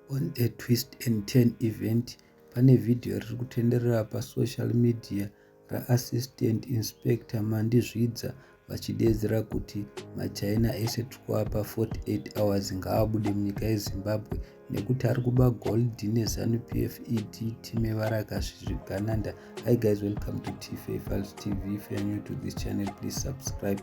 On a twist and turn event, pane vhidhiyo riri kutenderera pasocial media raAssistant Inspector Mandi Zvidza vachideedzera kuti machaina ese tikuwa pa 48 hours ngaabude munyika yezimbabwe nekuti ari kuba gold nezanupf ed time varakasvizvigananda hi guys welcome to tv fals tv if you're new to this channel please subscribe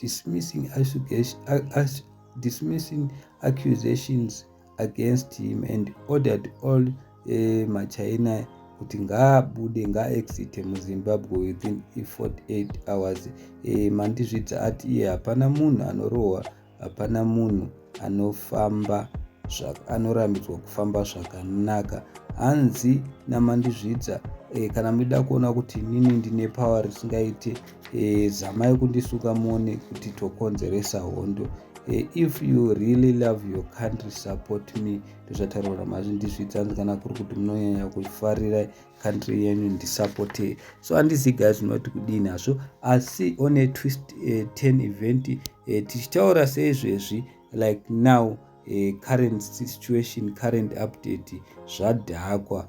dismissing, dismissing accusations against him and ordered all uh, machina kuti ngaabude ngaaexite muzimbabwe within 48 hours eh, mandizvidza ati iye hapana munhu anorohwa hapana munhu anofamba anorambidzwa kufamba zvakanaka hanzi namandizvidza eh, kana muchida kuona kuti inini ndine power risingaite e, zamai kundisuka muone kuti tokonzeresa hondo e, if you really love your country support me ndozvataurwa namazvi ndizvidza hanzi kana kuri kuti munonyanya kufarira country yenyu ndisupporte so handizi ga zvinoti kudini hazvo asi on a twist uh, e, ten event uh, tichitaura seizvezvi like now uh, current situation current update zvadhakwa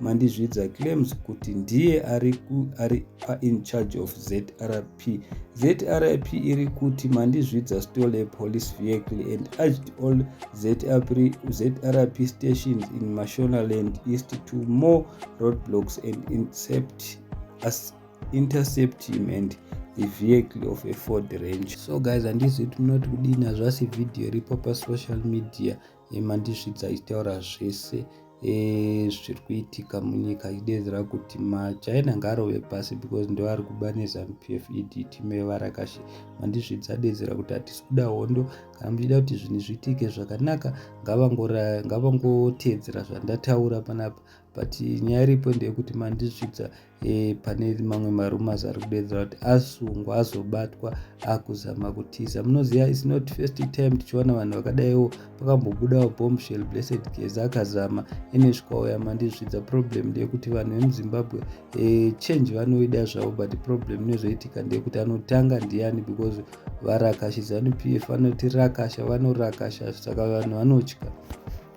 Mandizvidza claims kuti ndiye ari, ari in charge of ZRP. ZRP iri kuti Mandizvidza stole a police vehicle and urged all ZRP, ZRP stations in Mashonaland East to more roadblocks and intercept, as, intercept him and the vehicle of a ford range so guys handizvi kuti munoti kudini hazvasi vhidhiyo iripo pasocial media e, mandisvidza ichitaura zvese e, zviri kuitika munyika ichidedzera kuti machina ngaarove pasi because ndo ari kuba nezanu p f e d team yevarakashe mandisvidza adedzera kuti hatisi kuda hondo kana muchida kuti zvinhu zviitike zvakanaka ngavangoteedzera zvandataura panapa but nyaya iripo ndeyekuti mandisvidza e, pane mamwe marumas ari kudeedzera kuti asungwa azobatwa akuzama kutiza munoziva is not first time tichiwana vanhu vakadaiwo pakambobudawo bombshell blessed geza akazama ene zvikauya mandizvidza problem ndeyekuti vanhu vemuzimbabwe e, change vanoida zvavo but problem inozoitika ndeyekuti anotanga ndiani because varakashidzanu p f vanoti rakasha vanorakasha saka vanhu vanotya